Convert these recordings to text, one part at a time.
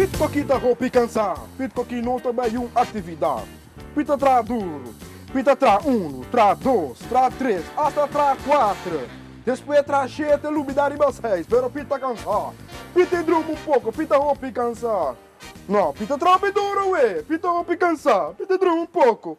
Pitko ki ta hopi kansa? Pitko ki no ta bai un aktividat? Pit a traha dur. Pit a traha unu, traha dos, traha tres, asta traha kuater. Despues a traha shete, a lubida riba seis, pero Pit ta kansa. Pit ta e druma un poko, Pit ta hopi kansa. No, Pit a traha hopi dur awe. Pit ta hopi kansa. Pit ta druma un poko.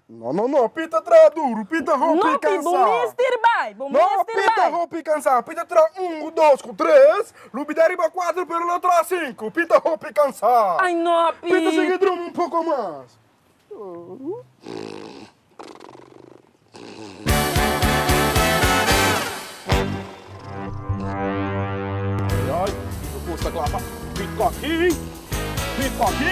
No no no Pita a traha duru Pita hopi cansá. No Pita bo mester bai bo mester bai. No Pita hopi cansá Pita traha un cu dos cu tres lo bida riba cuatro pero lo traha cinco Pita hopi cansá. Ay no Pita. Pita sigui druma un poco mas. Pita hopi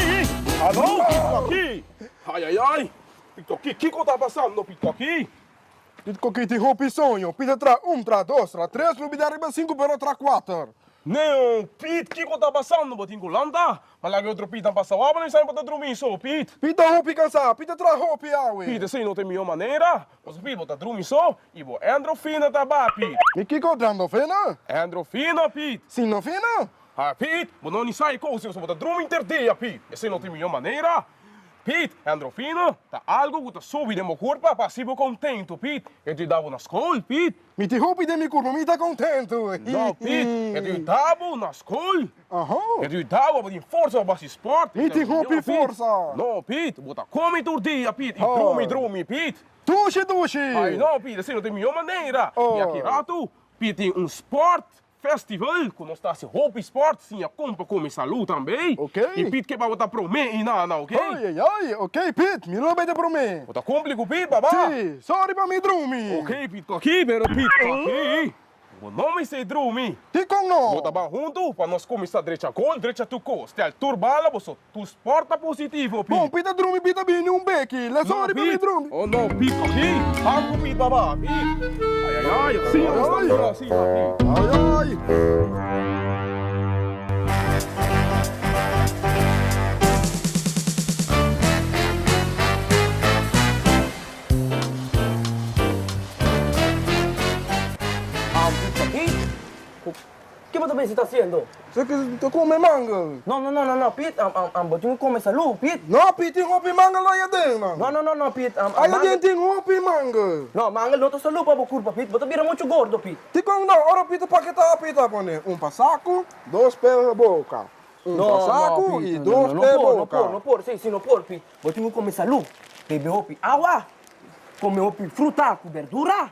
cansá. Ai ai ai! Pitoki, kiko ta pasando Pitoki? Pitoki tin hopi soño, Pit a traha un, traha dos, traha tres, lo bida riba sinku pero a traha kuater. Neo, Pit, kiko ta pasando? Bo tin ku lanta? M'a laga e otro Pit an pasa wak, bo no e sabe pa ta drumi so, Pit. Pit ta hopi kansa, Pit a traha hopi awe. Pit, Esei no ta e mihó manera. Kosa Pit, bo ta drumi so i bo endro fina ta ba, Pit. Mi kiko drando fina? Endro fina, Pit. Sino fina? Ai, Pit, bo no ni sa e kousa, bo ta drumi interdia, Pit. Esei no ta e mihó manera. Piet, Endrofina ta algu ku ta subi den bo kurpa pa hasi bo kontentu, Piet. E ta yuda bo na skol, Piet. Mi tin hopi den mi kurpa, mi ta kontentu. No, Piet. E ta yuda bo na skol. E ta yuda bo pa bo tin forsa pa bo hasi sport. Mi tin hopi forsa. No, Piet. Bo ta komi tur dia, Piet, i drumi drumi, Piet. Dushi dushi. Ay no, Piet, esei no ta e mihó manera. Yaki ratu, Piet tin un sport Festival cu nos ta haci hopi sport sin a compa con mi salud tambe. Ok. Y Pete que babo ta prome y nana ok. Ay ay ay ok Pete mi lo beta prome. Bo ta cumpli cu Pete baba. Si, sorry pa mi drumi. Ok Pete cu aki pero Pete cu aki bo no mi say drumi. Dicon no. Bo ta ban hunto pa nos cuminsa drecha gol drecha tuco stel tur bala bo so. Tu sporta positivo, pi. Bon, pi ta drumi, pi ta bini un beki. Lesa ori pa mi drumi. Oh no, pi, pa mi. Ban cu mi baba, pi. Ay, ay, ay, asina nos ta dura, asina, pi. Ay, ay. Ban cu, pa mi. Ke bo ta bisa ta hasiendo? Sa ke ta kome manga? No no no no Piet am am am bo tin ku kome salu Piet. No Piet tin hopi manga lo ayaden man. No no no no Piet am am manga. Ayaden tin hopi manga. No manga no ta salu pa bo kurpa Piet bo ta bira muchu gordo Piet. Tin kon no ora Piet ta paketa Piet a pone un pa saku dos pe boka un pa saku i dos pe boka. No no no Piet no por no por no por si si no por Piet bo tin ku kome salu bebe hopi awa kome hopi fruta ku berdura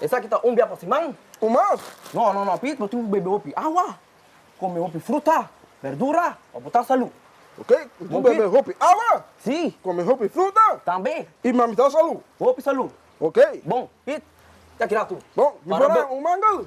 Esaki ta un bia pa si man. Un mas? No, no, no, Pit, bo tin ku bebe hopi awa, kome hopi fruta, berdura, pa bo ta salu. Oke, mi tin bebe hopi awa. Si. Kome hopi fruta. Tambe. I ma mi ta salu. Hopi salu. Oke. Bon, Pit, ya kira tu. Bon, mi por a un mangel.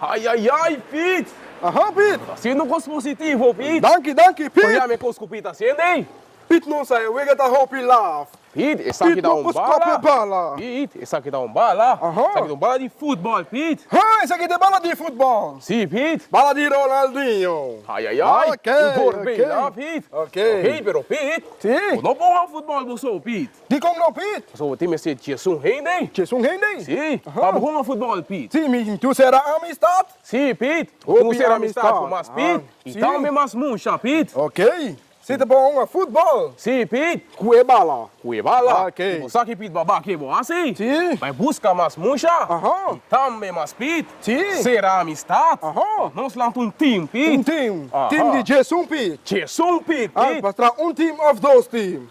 Ai ai ai Piet! Aha Piet! Bo ta hasiendo kos positivo Piet! Danki danki Piet! Pabia mi kos ku Piet ta hasiendo ei? Piet no sa e wega ta hopi laf. Piet esaki ta un bala! Piet esaki ta un bala! Aha! Esaki ta un bala di futbòl Piet! Ha! Esaki ta e bala di futbòl! Si Piet! Bala di Ronaldinho! Ai ai ai! Oké! Oké! Oké! Oké pero Piet! Si! Bo no bon han futbòl bo so Piet! Dikon no, Piet? Pasobra tin mester dje sun hende. Dje sun hende? Sí, pa bo hunga futbòl, Piet. Sí, mi tin sera amistat. Sí, Piet, mi tin sera amistat ku mas, Piet, i tambe mas musha, Piet. Okey, si ta bo hunga futbòl. Sí, Piet. Ku e bala. Ku e bala. Okey. I bo sa ki, Piet, baba ke bo hasi? Sí. Bai buska mas musha. Aha. I tambe mas, Piet. Sí. Sera amistat. Aha. Pa nos lanta un tim, Piet. Un tim. Aha. Tim di dje sun, Piet. Dje sun, Piet, Piet. An, pas traha un tim òf dos tim.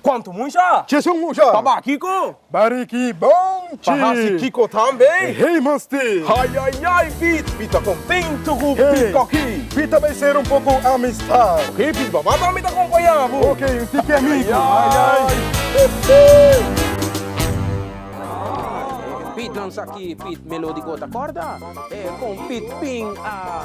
Cuanto mucha? Chesun mucha. Pa baki cu. Bari ki bon chi. Pa hasi kico tambe. Hey mas ti. Ay ay ay Pit. Pit ta contento cu Pit coki. Pit ta bay ser un poco amistad. Ok Pit baba tambe ta acompaña bo. Ok un tiki amigo. Ay ay ay. Pit lansa ki Pit melodico ta corda. Con Pit bin a.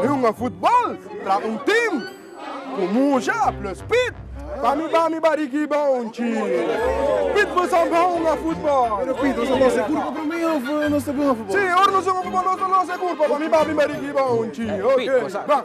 Mi hunga futbol tra un tim ku musha plus pit. Pa mi ba mi barigi ba un chi. Pit bo sa ba hunga futbol. Pero pit nos a los e kurpa pa mi of nos ta hunga futbol? Si, ora nos hunga futbol nos ta los e kurpa pa mi ba mi barigi ba un chi. Oke, ba.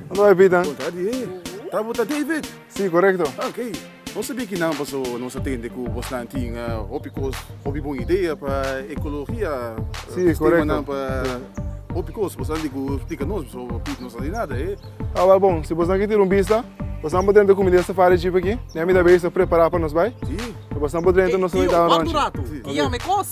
Ando David an? Kontra di e. Ta bo ta David? Si, korekto. Ah, ok. Nos ta bikinan paso nos a tende ku bosnan tin hopi kos, hopi bon idea pa ekologia, Si, korekto. sistemanan pa hopi kos. Bosnan tin ku splika nos paso Piet no sa di nada, e. Ah, wel bon. Si bosnan ke tira un bista, bosnan por drenta kuminda di safari jeep aki. Mira mi ta bai esei prepará pa nos bai. Si. Bosnan por drenta, nos ta bai taba nonchi. Tio, wak un ratu. Ki yama e kos.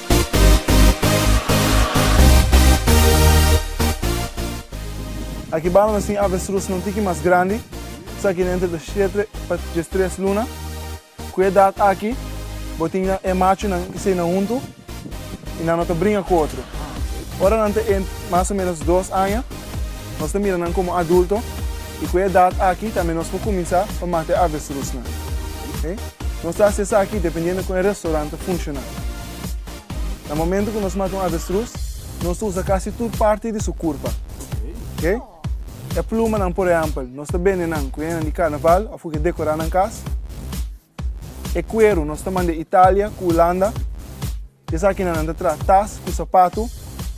Aki bano na sin avestruz na un tiki mas grandi, esaki na entre de shete pa diestres luna. Ku e edat aki bo tin nan e machunan i seinan huntu i nan no ta bringa ku otro. Ora nan ta mas o menos dos aña nos ta mira nan komo adulto. I ku e edat aki tambe nos por kuminsá pa mata e avestrusnan. Oke? Nos ta hasi esaki dependiendo kon e restoran ta funshoná. Na momento ku nos mata un avestrus, nos ta usa kasi tur parti di su kurpa. Oke? E plumanan, por ehèmpel, nos ta bende nan ku henganan di karnaval òf ku ke dekorá nan kas. E kueru nos ta manda Italia ku Hulanda. Esakinan nan ta traha tas ku sapatu,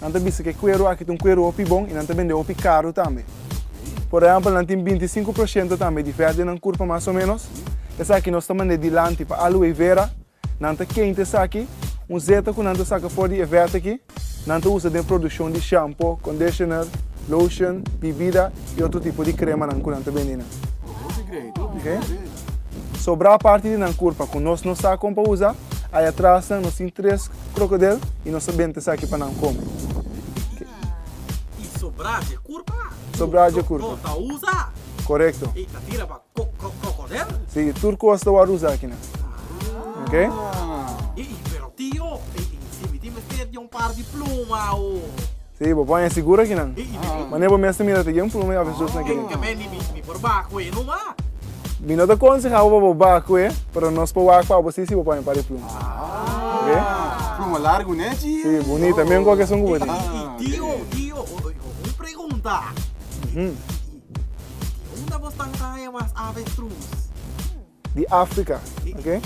nan ta bisa ku e kueru aki ta un kueru hopi bon i nan ta bende hopi karu tambe. Por ehèmpel, nan tin binti i sinku por shento tambe di vèt den nan kurpa mas o ménos. Esaki nos ta mand'é dilanti pa Aluwei Vera. Nan ta kenta esaki, un zeta ku nan ta saka for di e vèt aki. Nan ta usa den produshon di shampo, kondishoner, loshon, bibida i otro tipo di kremanan ku nan ta bendinan. Sobrá parti di nan kurpa ku nos no sa kon pa usa, ai atras nan nos tin tres krokodil i nos ta benta esaki pa nan kome. Haa. I sobrá dje kurpa ku nos no ta usa. Korekto. I ta tira pa krokodil? Si, i tur kos ta wòrdu usa akinan. Haa. Ok? Haa. I pero tio, i si mi tin mester dje un par di pluma o. Sí, bo por hesi gura kinan. Mane bo mester mira te yen pluma i ofrece dus na kinan. Tenke ben di mi, mi por baha cu e numa. Mi no ta conseha bo pa bo baha cu e, pero nos por wak pa bo si si bo pone un par di pluma. Ok. Pluma largu ne chi? Sí, bunita, miran cu a keson cu bo tin. Y tio, tio, un pregunta. Di unda bo tan haya mas avestruz? Di Africa, ok?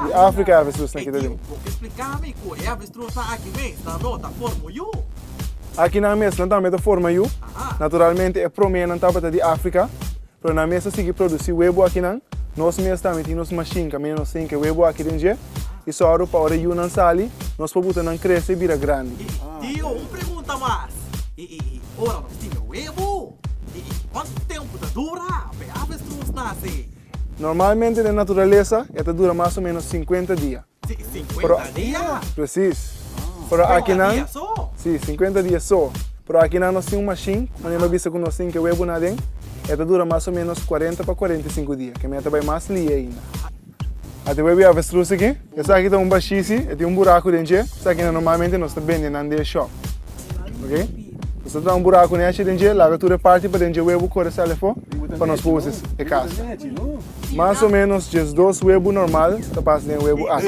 Di Africa avestruz na kita tin. Por qué explica mi cu e avestruza aki mes nan lo ta formo yu? Aki nan mes nan tambe ta forma yu. Naturalmente e prome nan tabata di Africa, pero nan mes ta sigui produci webo aki nan. Nos mes tambe tin nos machine caminda nos ta hinca webo aki den dje y sòru pa ora e yu nan sali nos por buta nan crece y bira grandi. Y tio un pregunta mas, y ora nos tin e webo? E kuantu tempu ta dura p'e avestruz nase? Normalmente den naturalesa e ta dura mas o menos sinkuenta dia. Si, sinkuenta dia? Presis. Pero akinan. Sinkuenta dia so? Si, sinkuenta dia so. Pero akinan nos tin un mashin ku manera lo bisa ku nos tin ke webunan aden, e ta dura mas o menos kuarenta pa kuarenta i sinku dia. Kemia ta bai mas lie ainda. A te webia avestruz aki. Esaki ta un bashisi, e tin un buraku den dje, esaki nan normalmente nos ta bende nan den shop. Ok? Nos ta traha un buraku nechi den dje, laga tur e parti paden dje webu kore sali afo pa nos por usa e kasa. Mas o menos diesdos webu normal ta pasa den e webu aki.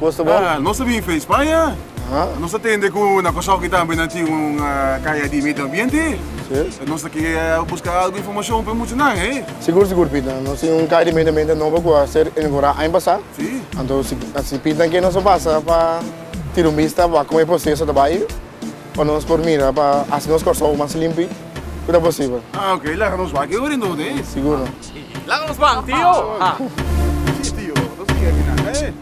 Gusto bo? Ah, nos a bin face Spanje. Aha. Nos a tende cu na Kosovki tambe nan tin un kaya di medio ambiente. Si. Ta nos ta kier a busca algo informacion pa e mucha nan, he? Sigur, sigur, Pita. Nos tin un kaya di medio ambiente nobo cu a ser inaugura aña pasa. Si. Anto, si, si Pita kier nos a pasa pa tira un bista pa como e proceso ta bay, pa nos por mira, pa haci nos Kòrsou mas limpi, cu ta posibel. Ah, ok. Laga nos wak e ora entonces, he? Sigur. Laga nos bang tio. Si tio, nos mira aki nan eh.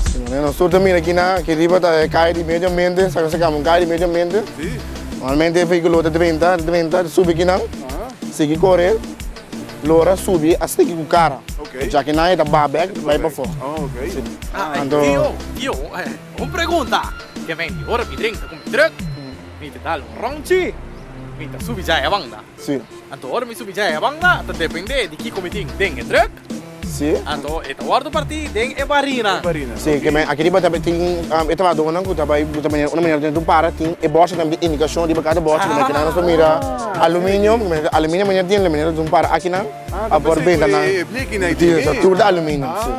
Si manera nos tur ta mira aki nan, aki riba ta e kaya di medio ambiente, sa kasa kama un kaya di medio ambiente. Normalmente e vehikulo ta drenta, ta drenta, ta subi aki nan, sigui kore, lora subi asta aki ku kara. Oca aki nan e ta ba bek, bai pafo. Anto. Tio, tio, un pregunta. Ke mente ora mi drenta ku mi truck, mi ta dal un rondchi, mi ta subi dja e banda. Sí. Anto ora mi subi djai e banda ta dependé di kiko mi tin den e truck. Sí. Anto e ta wòrdu partí den e barina. E barina. Sí, ke men aki riba ta tin e trabahadónan ku ta bai bo ta manera una manera tene ta un para tin e bòrse tambe tin indikashon riba kada bòrse ku nan kinan nos por mira aluminio ku manera aluminio manera tin la manera ta un para akinan a por benta nan. Tur ta aluminio. Sí.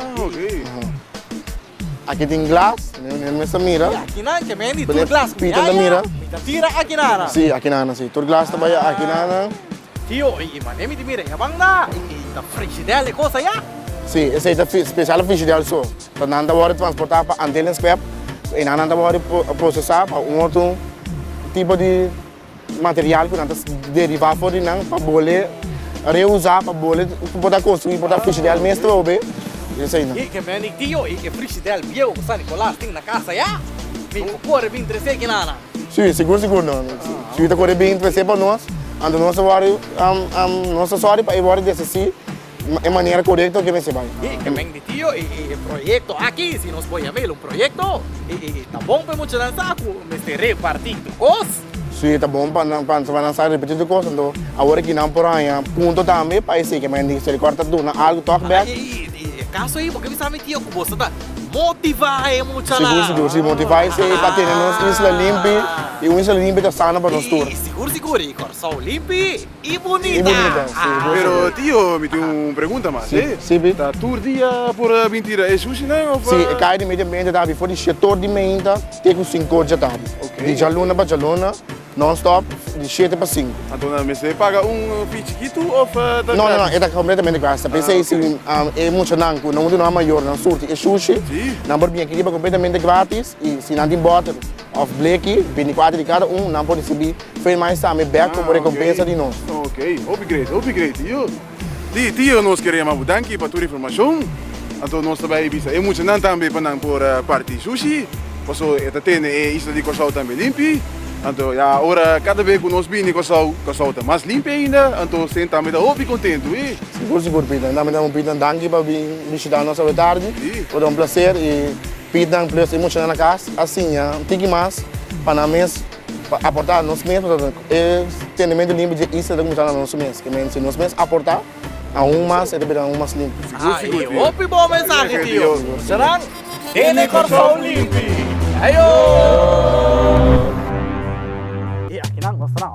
Aki tin glas, mi mester a mira. Aki nan ke mendi tur glas ku mi a ya. Mi ta tira aki nan nan. Si, aki nan nan si. Tur glas ta bai aki nan nan. Tio, e mané mi tin mira ya banda, e ta frigidel e kos aya? Si, esei ta spesial frigidel so. Ta nan ta wòrdu transportá pa Antilles Club. E nan nan ta wòrdu prosesá pa un otro tipo di. Material ku nan ta deribá for di nan pa bo le reusá, pa bo le por ta konstruí, por ta frishidel mes trobe, i eseinan. E ke meni tio i e frishidel bieu ku San Nikolas tin na kasa ya? Mi ku kore bin tres'é kinana. Sí, sigur sigur nan. Si ta kore bin tres'é pa nos, anto nos ta wòrdu, nos ta sòri pa e wòrdu desisí. E manera korekto ke mester bai. E kemen di tio e proyekto aki, si nos pon yama el un proyekto, e ta bon pa e muchanan sa ku mester repartí tur kos. Si ta bon pa nan sa repartí tur kos, anto awor aki nan por haña punto tambe pa esei kemen di miserikòrdia ta duna algu tòg bèk. I e kaso ei bo ke bisa mi tio ku boso ta motivá e muchanan? Sigur sigur, si motivá esei pa tene nos isla limpi, i un isla limpi ta sana pa nos tur. I sigur sigur, i Kòrsou limpi. I bunita. Pero tio mi tin un pregunta mas e ta tur dia por a bin tira e sushinan of. Si e kai di medio ambiente ta habi for di shietor di meinta te ku sinku or djatadi di djaluna pa djaluna non stop di shiete pa sinku. Anto nan mester paga un fee chikitu of ta gratis? No no e ta kompletamente gratis ta pesey si e muchanan ku nan un di nos a mayornan surti e sushi nan por bin aki riba kompletamente gratis i si nan tin bottle. Of Bleki, bini parti di kada un, nan por risibi Frei Mais tambe bek komo rekompensa di nos. Ok, hopi gresi, hopi gresi tio. Tio, tio nos kere yama bo danki pa tur informashon. Anto nos ta bai bisa e muchanan tambe pa nan por parti shushi, paso e ta tene e isla di Kòrsou tambe limpi. Anto ya ora kada be ku nos bini Kòrsou, Kòrsou ta mas limpi ainda, anto Sen tambe ta hopi kontentu, i. Sigur, sigur Pita, nan tambe ta bo Pita danki pa bin bishita nos awe tardi. Di. Ora un plaser i. Pidi nan p'e nos emociona na cas, a siña un tiki mas pa nan mes pa aporta nos mes, pasobra e sentimiento limpi dje Easter ta cuminsa na nos mes, kimen si nos mes aporta aun mas e ta bira aun mas limpi. Ay, hopi bon mensahe tio. Nan kende Kòrsou limpi. Ajo!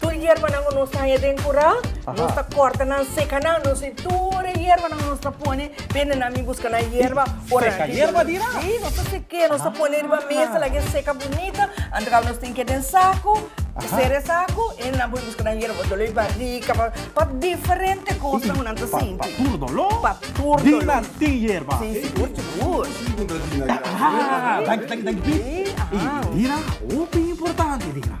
Tur yerbanan cu nos ta haña den cura, nos ta corta nan, seca nan. Nos tin tur e yerbanan nos ta pone. Bende na mi busca nan yerba. Seca yerba di nan? Sí, nos ta seca, nos ta pone riba mesa, lagu'e seca bunita. Anto caba nos tin k'e den sacu, cera e sacu y nan por busca nan yerba pa dolor di barica, pa, pa diferente cosnan cu nan ta sinti. Pa tur dolor? Pa tur dolor. Di nan tin yerba? Sí, sigur, sigur. Danki, danki, danki, Pit. Y di nan, hopi importante di nan.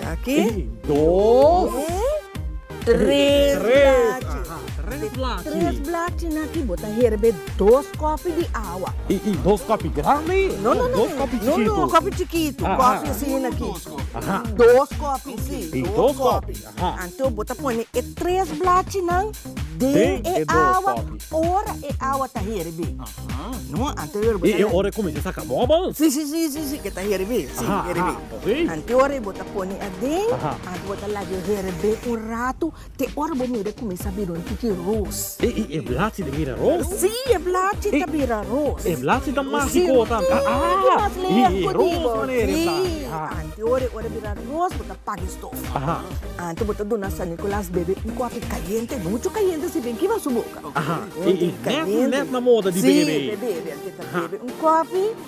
Aki. Ey, dos. Tres blachi. Aha, tres blachi. Tres blachi na aki bo ta herbe dos kopi di awa. Ey, ey, dos kopi grandi? No, no, no. Dos kopi chikitu? No, no, kopi chikitu. Aha. Kopi asin aki. Dos kopi. Aha. Dos kopi, si. Ey, dos kopi. Aha. Anto bo ta pone e tres blachinan den e awa. Den e dos kopi. Ora e awa ta herbi. Aha. No, anterior bo ta. E ora e kuminsha saka bubbles? Si, si, si, si, si, ke ta herbi. Si, herbi. Aha, aha. Kantu ora e bo ta pone aden, a bo ta laga e heren be un ratu, te ora bo mira e kuminsá bira un tiki ros. E blachi ta bira ros? Sí, e blachi ta bira ros. E blachi ta mágiko tambe. E ros manera e ta. Sí, antes ora e ora bira ros bo ta paga e stof. Antes bo ta duna San Nicolas bebe un kòfi kayente, muchu kayente si bin kiba su boka. Nèt nèt na moda di bebe. Sí, bebe, antes ta bebe un kòfi.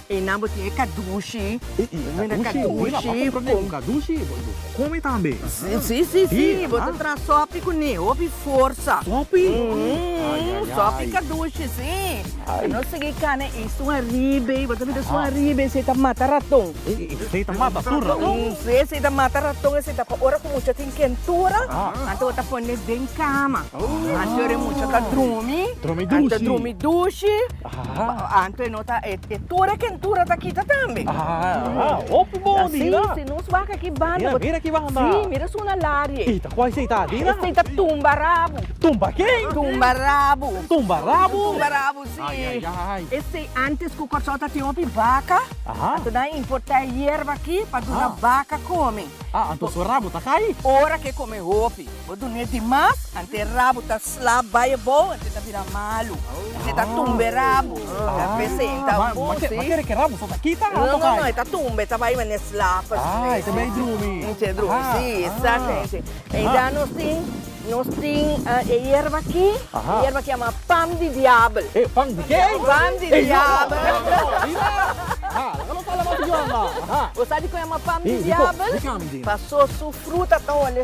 E nan bo tin e kadushi. Mira kadushi. Kadushi bo bo kome tambe. Si si si bo ta traha sopi ku ne hopi forsa. Sopi? Umm sopi kadushi si. Ai. No sigui kane i sun aribe bo ta bira sun aribe esei ta mata raton. Esei ta mata tur raton? Si esei ta mata raton esei ta pa ora ku mucha tin kentura anto bo ta pone den kama anto ora mucha ta drumi. Drumi dushi. Anta drumi dushi. Anto e no ta, e tur e kentura ta kita tambe. Hopi bon di na. Si, si nos wak aki banda. Mira, mira ki banda. Si, mira su na larie. I ta kuai seita di na. Seita tumba rabu. Tumba ke? Tumba rabu. Tumba rabu? Tumba rabu si. Ai, ai, ai. E sei antes ku Kòrsou ta tin hopi baka. Anto nan importa e yerba aki pa duna baka kome. Anto su rabu ta kai? Ora ke kome hopi. Bo dun'é di mas, anté rabu ta sla bai abou, anté ta bira malu, anté ta tumbe rabu, ta presenta un bou, sí. Bo kere ke rabu so ta kita anto kai? No, no, e ta tumbe, e ta bai manera slap así. Ah, e ta bai drumi. Enche drumi, sí, exactamente. Eindá nos tin, nos tin e yerba akí, e yerba akí a mahá pam di diabel. E, pam di ke? Pam di diabel. Ey, no, no, no, mira, aha, laka nos hala mas di Joanda, aha. Bo sa dikon e a mahá pam di diabel? Di kon, di kon a mi di? Paso su fruta ta olé.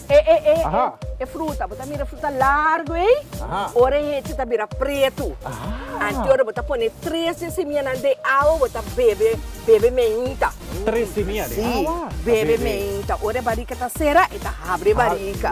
E e e e e fruta bo ta mira fruta largo ei ora e hechi ta bira pretu antes ora bo ta pone tres di e semianan den awa bo ta bebe bebe meinta si bebe meinta ora e barika ta sera e ta habri e barika.